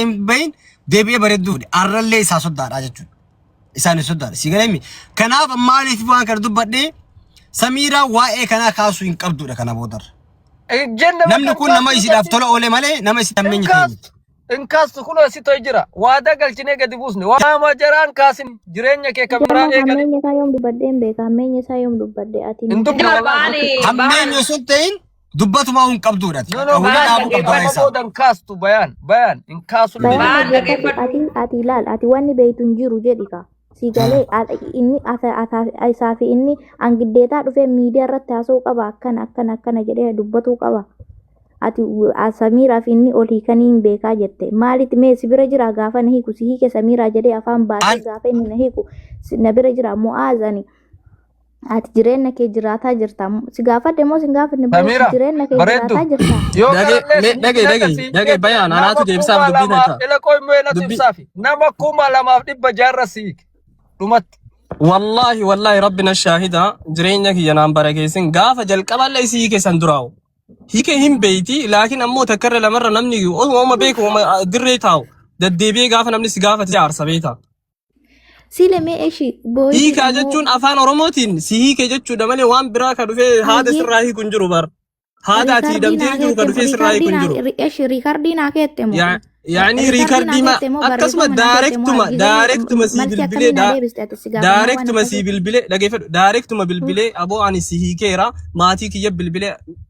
hin bahin deebi'ee bareedduu fide arrallee isaa soddaadha jechuudha. Isaan soddaadha. Si galee Kanaaf maaliif waan kana dubbadhee samiiraa waa'ee kanaa kaasuu hin qabdudha kana boodarra. Namni kun nama isiidhaaf tola oole malee nama isi tammeenyi ta'e miti. Inkaas kun asitoo jira. Waadaa galchinee gadi buusne. Waama jaraan kaasin jireenya kee kan biraa eegali. Hammeenya isaa yoom dubbadhee hin beeka. Hammeenya isaa yoom dubbadhee ati. Hin dubbadhu. Hammeenya sun ta'in Dubbatumaa hin qabduudha. No, no, Hunda bayaan dhaabuu qabda dhaggeeffadhu. keessaa. Boodan kaastu bayaan. Bayaan hin kaasu Bayaan Bayaan Bayaan dhaggeeffadhu. dhaggeeffadhu. Ati ati ilaal ati wanni beektu hin jiru jedhi kaa. Si galee al- inni asa- asa- isaa fi inni angiddeetaa dhufee miidiyaa irratti haasa'uu qaba akkana akkana akkana jedhee dubbatuu qaba. Ati w- a- Samiiraa fi inni ol hiikanii hin beekaa jette. Maalitti mee si bira jira gaafa na hiiku si hiike Samiiraa jedhee afaan baasee An- gaafa inni na hiiku si- na bira jira Mu'aaz ani Ati jireenya kee jiraataa jirta. Si gaafadhe moo si hin gaafanne boo Samiira, jireenya kee bareeddu. jiraataa jirta. Yoo Dhage- kanallee me- dhage- sibiila dhage- akkasii dhage hidhate, bayaan, anaatu nama deebisaaf kuma dubbii lamaaf tayta. ilakoo immoo eenatu Dubbii- ibsaafi. Nama kuma lamaaf dhibba jaarra siik. Dhumatti. Wallaahi wallaahi rabbi na shaahida jireenya kiyya naan bara keessin gaafa jalqaballee isii keessan duraawu. Hiike hin beeyti laakiin ammoo takkarra lamarra namni osuma beeku uma dirree taa'u. Deddeebi'ee gaafa namni si gaafate aarsa beeta. Siile mee eshi booyi. Hiikaa jechuun afaan Oromootiin si hiike jechuudha malee waan biraa ka dhufee haada Ayyee. sirraa hiiku hin jiru bar. Haada ati hidhamtee jiru ka dhufee sirraa hiiku hin jiru. Eshi riikardii naa keette moo? Ya- Yaani riikardii ma akkasuma daarektuma daarektuma sii bilbilee daa- daarektuma sii bilbilee dhageeffadhu daarektuma bilbilee aboo ani si hiikeera maatii kiyya bilbilee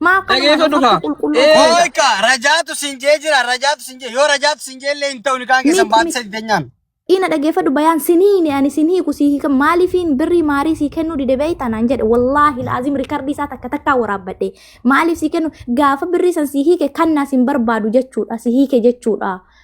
Maa akkana Dhageeffadhu kaa. harka qulqulluu Ee, qabda. Ooyka rajaatu sin jee jira rajaatu sin jee yoo rajaatu sin jee illee hin ta'u ni kaan keessan Miti, baatti miti. sadi denyaan. Ina dhageeffadhu bayaan siniini ani sin hiiku sii hiika maaliifiin birrii maarii sii kennuu dide beeyta naan jedhe wallaahi laazim riikardii isaa takka takkaa waraabbadhe maaliif sii kennu gaafa birrii san sii hiike kannaa sin barbaadu jechuudha sii hiike jechuudha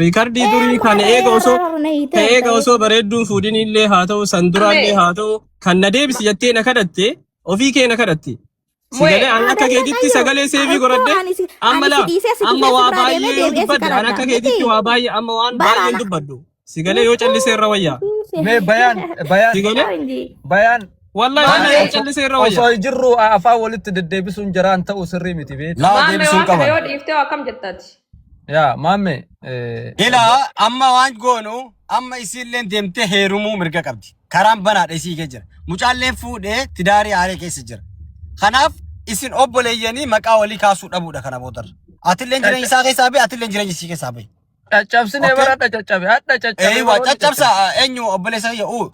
Riikardii durii kan eega osoo ka eega osoo bareedduun fuudhin illee haa ta'u san duraa illee haa ta'u kan na deebisi jettee na kadhatte ofii kee na kadhatte. Sagalee an akka keetitti sagalee seefii godhadhe amma laa amma waa baay'ee yoo dubbadde an akka keetitti waa baay'ee amma waan baay'ee hin dubbadhu. Sagalee yoo callisee irra wayyaa. Mee bayaan bayaan Sagalee bayaan wallahi wallahi yoo callisee irra wayyaa. osoo jirru afaan walitti deddeebisuun jaraan ta'u sirrii miti beektu. Laa Maamee deebisuun waan kana qaban. yoo dhiiftee akkam jettaati? Yaa maamme Ilaa amma waan goonu amma isiilleen deemtee heerumuu mirga qabdi. Karaan banaadha isii kee jira. Mucaalleen fuudhee tidaarii aaree keessa jira. Kanaaf isin obboleeyyanii maqaa walii kaasuu dhabuudha kana boodarra. Atilleen jireenya isaa keessaa bahe atilleen jireenya isii keessaa bahe. caccabsinee Okay. bara adda caccabe adda caccabe Eewa bara adda caccabsa eenyu obboleessa kiyya uu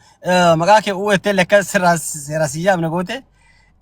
maqaa kee uu ettee lekka sirraa sirraa siyyaamne goote.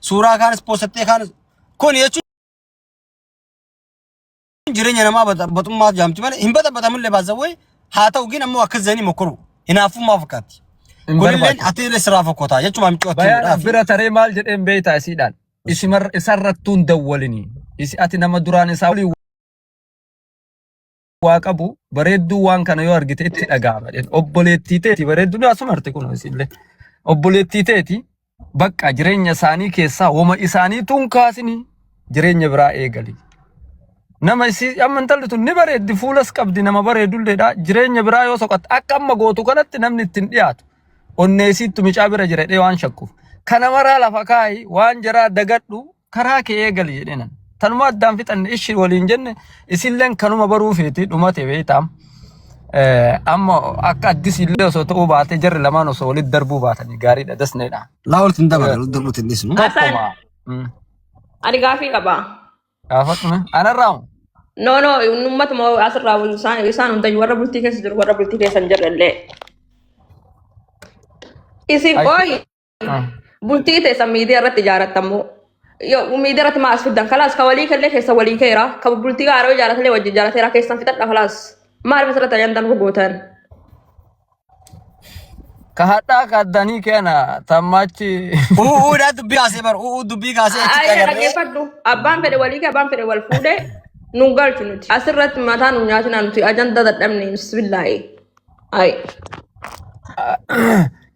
Suuraa kaanis poostattee kaanis kun jechuun jireenya namaa baxummaa jaamti malee hin baxabatamullee baasawwee haa ta'u gin ammoo akkas jedhanii mokkoru hinaaffummaa fakkaatti. Kunilleen ati illee sirraa fokkotaa jechuudha miccoo Bayaan bira taree maal jedheen beeytaa isiidhaan. Isarrattuun dawwalinii. Isi ati nama duraan isaa waliin waa qabu bareedduu waan kana yoo argite itti dhaga'ama jedhe. Obboleettii teeti bareedduu ni asuma arte kun isillee. Obboleettii teeti bakka jireenya isaanii keessaa woma isaanii tun kaasini jireenya biraa eegali. Nama isii amma intalli tun ni bareeddi fuulas qabdi nama bareedulleedha jireenya biraa yoo soqatte akka amma gootu kanatti namni ittiin dhiyaatu onnee isiittu micaa bira jira jedhee waan shakkuuf. Kana maraa lafa kaa'i waan jaraa dagadhu karaa kee eegali jedhee nan. Tanuma addaan fixanne ishi waliin jenne isilleen kanuma baruu feeti dhumate beektaam. Eh, Amma akka addis illee osoo ta'uu baatee jarri lamaan osoo walitti darbuu baatanii gaariidha dasneedha. Laa walitti hin dabalan, walitti darbuutti hin dhiisnu. Hasan, Tokkuma. Mm. ani gaafii qaba. Gaafadhume. Anarraa hoo? No, no, uummatuma asirraa wal- isaan isaan hundayyuu warra bultii keessa jiru, warra bultii keessa hin jirre illee. Isin Ay, qooyi. Ah. Bultii teessan miidiyaa irratti ijaarattamu. Yoo miidiyaa irratti maas fiddan kalaas ka walii kallee keessa walii keera. Ka bultii gaaroo ijaaratellee wajjin ijaarateera keessan fixadha kalaas. Maal masirratti ajandan gogootan? Ka hadhaa ka addanii keena tammachi. Uudhaa dubbii kaasee bar uudhaa dubbii kaasee achitti Ayyee agarree. dhaggeeffadhu. Abbaan fedhe walii kee abbaan fedhe wal fuudhee nu galchu nuti. Asirratti mataa nu nyaatinaa nuti ajanda dadhabne bismillaahi. Ay.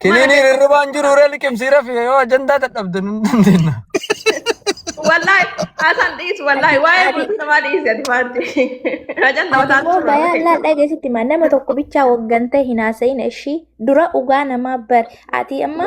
Kiniin hirribaan jiru irra liqimsii rafi yoo ajandaa dadhabde nun dandeenya. Wallahi asan dhiis wallahi waa'ee bultii namaa dhiisi ati maanti. Ajan nama Ati taatu immoo bayaa turre. laal dhageessitti maa nama tokko bichaa waggan ta'e hin haasa'in ishii dura dhugaa namaa bar ati amma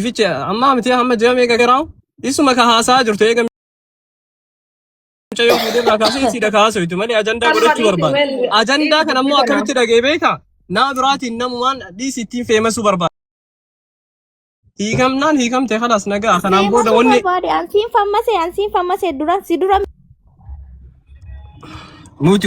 Fiche amma miti amma ji'a meeqa garaawu isuma ka haasaa jirtu eega mucayyoo fuudhee irraa kaasee siidha kaasuu itti malee ajandaa Kanuma godhachuu dhiisi barbaada. weel Ajandaa kana immoo dhiisi kana. akkamitti dhagee beeka? Naa biraatiin namumaan dhiisi ittiin feemasuu barbaada. Hiikamnaan hiikamte kanas nagaa kanaan booda Deemasuu wanni barbaade ansiin fammase ansiin fammase duran si dura nuti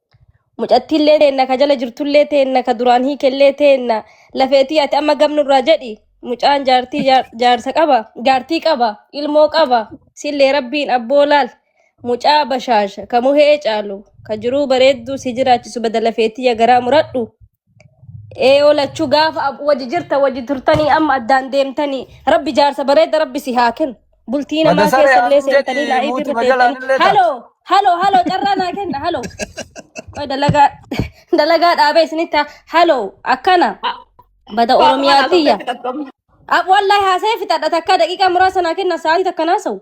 Mucattiillee teenna ka jala jirtullee teenna ka duraan hiikellee teenna lafeetii ati amma gamnurraa jedhi mucaan jaartii jaar- jaarsa qaba jaartii qaba ilmoo qaba sillee rabbiin abboo laal mucaa bashaasha ka muhee caalu ka jiruu bareedduu si jiraachisu bada lafeetii ya garaa muradhu Ee olachu gaafa ab- waji jirta waji turtanii amma addaan deemtanii rabbi jaarsa bareeda rabbi si haa kennu bultii namaa Madasare keessa illee Amin seentanii jedhi laayii muuti irra majalaan teettanii illee ta. haloo haloo haloo carraa naa kenna haloo qoy dalagaa dalagaa dhaabee isinitti haa- haloo akkana bada Waa oromiyaa waan asirratti tiyya qabdu. Ab- wallahi haasa'ee fixadha takka daqiiqaa muraasa naa kenna sa'aatii takka naa sa'u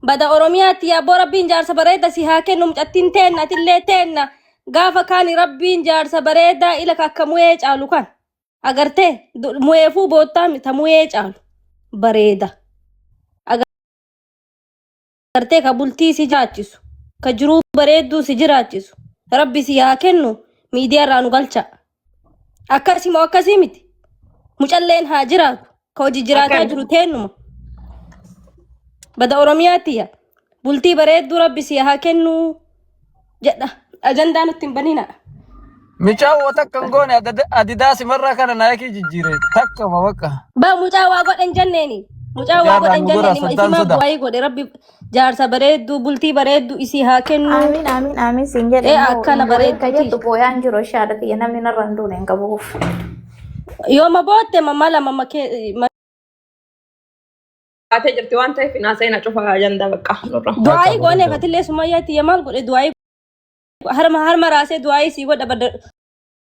Bada Oromiyaatti yaabboo rabbiin jaarsa bareeda si haa kennu mucattiin teenna atillee teenna gaafa kaani rabbiin jaarsa bareedaa ila ka akka muyee caalu kan agartee du- muyeefuu boottaa mi- ta muyee caalu bareeda agartee ka bultii si jiraachisu ka jiruu bareedduu si jiraachisu rabbi si haa kennu miidiyaa irraa nu galcha Akkasii moo akkasii miti? Mucalleen haa jiraatu. Ka hojii jiraataa Akkami? jiru teennuma. Bada Oromiyaatti yaa. Bultii bareedduu rabbi si haa kennu jedha. Ajandaa nutti hin banina. Micaa woo takka hin goone adada- adidaa simarraa kana naayikii jijjiire takkama bakka. Ba mucaa waa godhan jenneeni. Mucaa waa Jaarraa godhan nu godha jenneeni. soddaan Isimaa sodaa. bu'aa godhe rabbi Jaarsa bareedduu bultii bareedduu isii haa kennu. Aamiin aamiin aamiin siin jedhe Ee, immoo akkana hin boo'in ka bareeduuti. jettu booyaan jiru ishee haadha tiyya namni narra hin duune hin qabuuf. Yooma bootte mamma lama makee Baatee jirti waan ta'eef hin haasa'ina cufa ajandaa bakka nurra. du'aayii goonee fatillee sumayyaa tiyya maal godhe du'aayii harma harma raasee du'aayii sii godha badda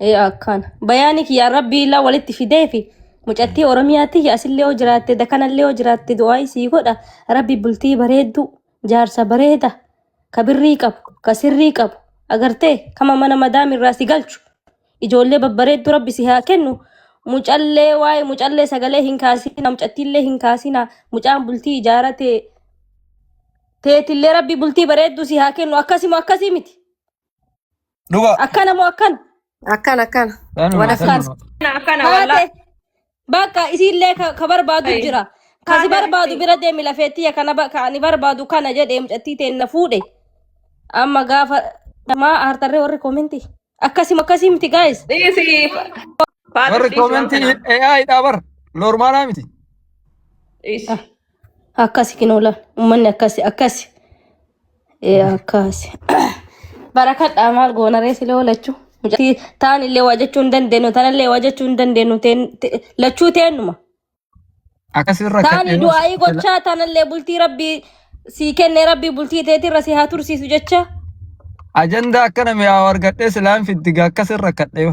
Ee akkaan. Bayaani kiyyaa rabbii illaa walitti fidee fi mucattii Oromiyaa tiyya asillee yoo jiraatte dakanallee yoo jiraatte du'aa isii godha rabbi bultii bareedduu jaarsa bareeda ka birrii qabu ka sirrii qabu agartee kama mana madaami irraa si galchu ijoollee babbareedduu rabbi si haa kennu mucallee waa'ee mucallee sagalee hin kaasina mucattiillee hin kaasina mucaan bultii ijaarate teetillee rabbi bultii bareedduu si haa kennu akkasimo akkasii miti. Dhuga. Akkana moo akkana? Akkana akkana. Kanuma Wala Akkaan. kanuma. Kana akkana Haate. wallaahi. Bakka isiillee ka ka barbaadu Ayi. jira. Ka si Haate barbaadu miti. bira deemi lafeettiya kana ba- ka ani barbaadu kana jedhee mucattii teen na fuudhe. Amma gaafa maa aartarree warri koominti. Akkasima akkasii miti gaayis. Dhiisi. Faaxis Warri dhiisi waan koomentii kanaa. AI dhaa bar. Normaalaa miti. Dhiisi. Akkasi kinoola ummanni akkasi akkasi ee, akkasi barakadhaa maal goona reesi lee lachuu mucatti taan illee waa jechuu hin dandeenyu tan illee waa jechuu hin dandeenyu teen- te- lachuu teennuma Akkasii irra taani kadhee du'aa'ii gochaa taanallee bultii rabbii sii kenne rabbii bultii teetirra si haa tursiisu jecha ajandaa akkana mi'aawu argadhee silaan fiddiga akkasii irra kadhee.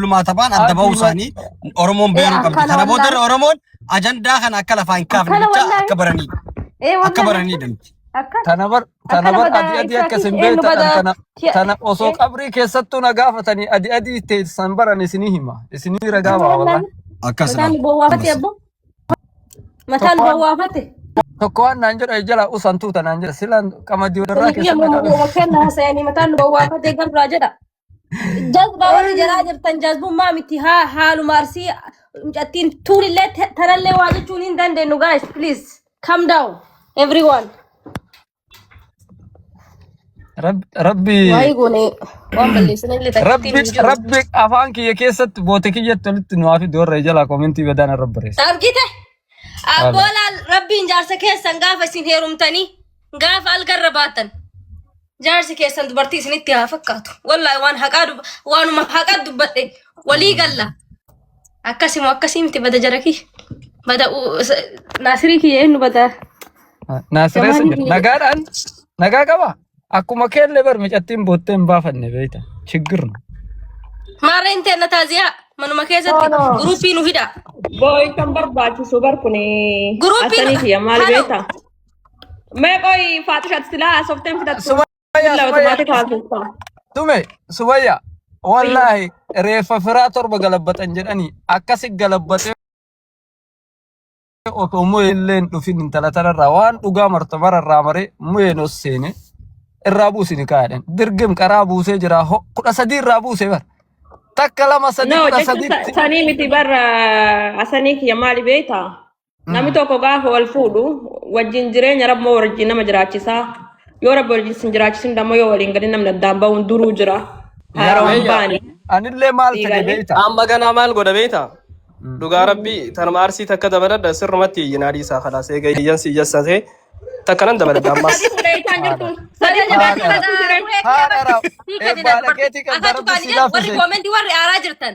Bulmaa taphaan adda bahuu isaanii Oromoon beeruu qabdi. Kana boodarra Oromoon ajandaa kana akka lafaa hin kaafne jecha akka baraniidha. Akka baraniidha. Tana bar tana bar adi adi akka isin beektan tana tana osoo qabrii keessattuu na gaafatanii adi adi teessan baran isinii hima isinii ragaa baa wallaan. Akkas Mataan bowwaafate abbo. Mataan bowwaafate. Tokko waan naan jedha jala usan tuuta naan jedha silaan qamadii warraa Kuni biyya keessatti na gaafa. mummuuma kenna hasayanii mataan bowwaafate gabraa jedha. Jazbaa warri jalaa jirtan jazbummaa miti haa haaluma arsii mucattiin tuulillee te- tanallee waa jechuun hin dandeenyu guys please calm down everyone. Rabbi rabbi Waa'ee goone waan balleessan illee takkitti rabbi hin jiru. rabbi afaan kiyya keessatti boote kiyyatti walitti nu haafi doorra jalaa koomentii badaan irra barreessa. Argite? Abboolaan rabbiin jaarsa keessan gaafa isin heerumtanii gaafa algarra baatan. Jaarsi keessan dubartii isinitti haa fakkaatu. Wallaahi waan haqaa dub- waanuma haqaa dubbadhe walii galla. Akkasimo akkasii miti bada jarakii. Bada u- s- naasirii kiyya eenyu bada. Naasiree Gamaan sanyii. Nagaadhaan nagaa qaba. Akkuma keellee bar micattiin boottee hin baafanne beekta. Chiggirna. Maarree hin teenna taaziyaa manuma keessatti No, no. guruupii nu hidha. Booy kan barbaachisu bar kun Guruupiin- asaniiti maal Halo. beektaa? Mee qoyi faaxishat silaa haasofteen fudhattu. Sumayyaa, Billaa Sumayyaa. otomaatik haasoftaa. Tume sumayya wallaahi reeffa firaa torba galabbatan jedhanii akkasi galabbatee otoo mu'ee illee hin dhufin intala tanarraa waan dhugaa marta mararraa maree mu'ee nos seene irraa buusini kaa'edhan dirgim qaraa buusee jira ho kudha sadii irraa buusee bar takka lama sadii No, kudha jechuun sadiitti sanii miti barra asanii kiyya maali beektaa? Namni tokko gaafa wal fuudhu wajjin jireenya rabbi moo wajjin nama jiraachisaa yoo rabbi wajjin sin jiraachisin dammoo yoo waliin galin namni addaan ba'uun duruu jira haaraan hin baane Anillee maal fedhe Dhiiganii. beekta? Amma ganaa maal godha beektaa? Dhugaa rabbii tanuma arsii takka dabaladha sirrumatti iyyinaa dhiisaa kalaas eega iyyan si iyyasate takka nan dabaladha ammas. Fuudheetaan jirtuun Saree jabaa Haadha. kana Haadha raaf. Eebbaa dhageetii kan darbu si laaffise. Warri koomentii warri aaraa jirtan.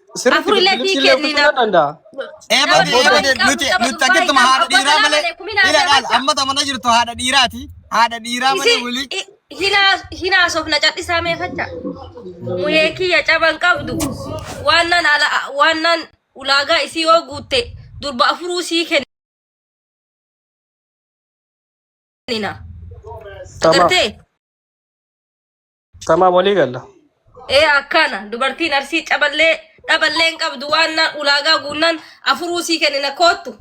Sirriitti Afurillee sii bilbilchillee kenni fudhachuu na. nan danda'a. Eebade Abboo Eebade eebade hin nuti qabdu nuti akkatti ma haadha dhiiraa malee ila dhaal amma tamana jirtu haadha dhiiraati haadha dhiiraa malee wili Hinaasof na cadhisaa mee facha. Muhee kiyya caban qabdu. Waannan ala waannan ulaagaa isii yoo guutte durba afuruu sii kennina. Tamam. Agartee? Tamaa walii galla. Ee akkana dubartiin arsii caballee dhaballee hin qabdu waan naan ulaagaa guunnaan afuruu sii kennina koottu.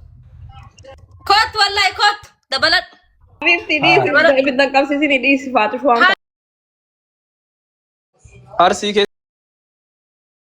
Koottu wallahi koottu dabaladhu. Bifti dhiisi Dabaladhu. ibidda qabsiisini dhiisi faatu shuwaan Arsii kee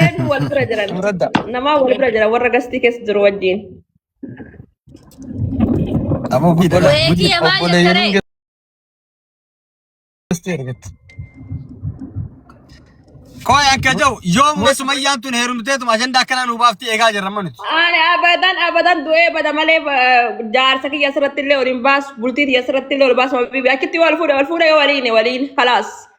Eenyu wal bira jiran? Muradda. Namaa wal bira jiran warra gastii keessa jiru wajjin. Amoo fi dhala. Wayee kiyya maal jette Obboleeyyan ree? gastee argatte. Kooy akka jau yoomuma sumayyaan tun heerumteetuma ajandaa akkanaa nu baafti eegaa jirra amma nuti. Ani abadan abadan du'ee bada malee eh, jaarsa kiyya asirratti illee waliin baasu bultii kiyya asirratti illee wal baasu mabibi achitti wal fuudha wal fuudha yoo waliin waliin kalaas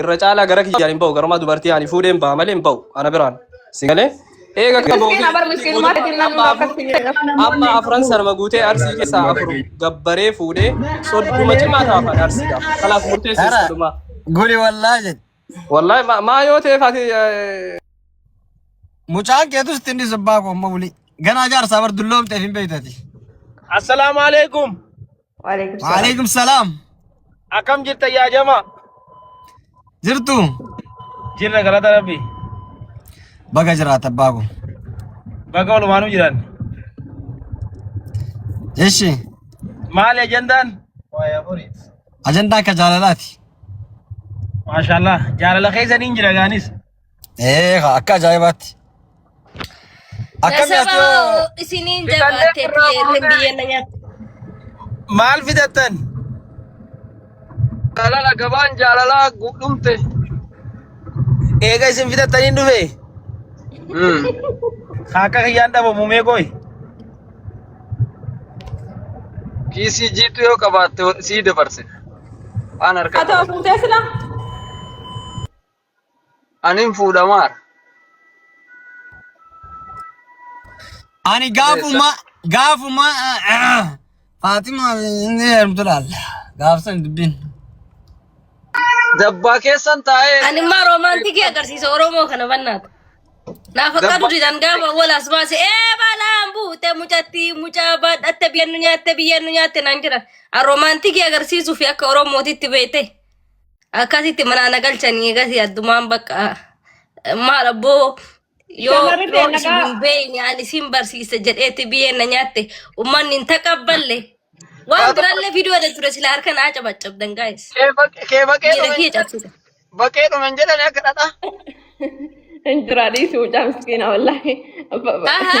irra caalaa gara kiyyaan hin ba'u garumaa dubartii ani fuudheen ba'a malee hin ba'u ana biraan si galee eega kan ba'u Miskiina bar miskiinumaa keetiin namni akkas hin jedhu. amma afran sarma guutee arsii keessaa afur gabbaree fuudhee sodduma cimaa taafaan arsiidha kanaaf murteessu Hara. sodduma Guli wallaa jedhe. wallahi ma- maa yoo ta'eef ati eh, Mucaan keetu sitti inni subbaa koo amma wuli. Ganaa jaarsaa bar dulloomteef hin beektati. Assalamu alaikum. Waalaikum salaam. Waalaikum salaam. Akkam jirta yaa jamaa? Jirtu. Jirra galata rabbi. Baga jiraata abbaa koo. Baga walumaanuu jiran. Eshi. Maali ajandaan? Ajandaa akka jaalalaati. Maashaallah jaalala keessa niin jira gaanis. Ee haa, akka ajaa'ibaatti. Akkami ati Nasaba yoo isiniin jabaattee biyyeerri biyyeen na nyaatti. maal fidattan? Jaalala gabaan jaalalaa guutumte. Eega isin fidattanii hin dhufe. Haa akka kiyyaan dhabamu mee goy. Kiisii jiitu yoo qabaatte sii dabarse. Waan Haa harkaa ta'u fuutee silaa. Anin fuudhamaara. Ani gaafuma gaafuma Faatima inni heerumtu laalla. Gaafsan dubbiin. Dabbaa keessan taa'ee Ani immoo roomaantikii agarsiisa Oromoo kana bannaata. Naaf akka Dabba- duudhaan gaafa wal as baase ee balaan buute mucatti mucaa baadhatte biyya nu nyaatte biyya nu nyaatte naan jedhan. An roomaantikii agarsiisuu fi akka Oromootitti beekte. Akkasitti manaa na galchanii egasii addumaan bakka eh, maal abboo yoo Shamarri yoo isin beellagaa hin beekne ani isin barsiisa jedheetti biyyeen na nyaatte ummanni hin taqabballe waan Haa tokko birallee viidiyoo irra ture sila harka naa cabacabdan gaa'is kee baq- kee baqee miira dhume hin kiyya jedhan cabsita. baqee dhume hin jedhan akka dhadhaa. Hin jira dhiisuu mucaa miskiina wallaahi. Abba- abba. Aha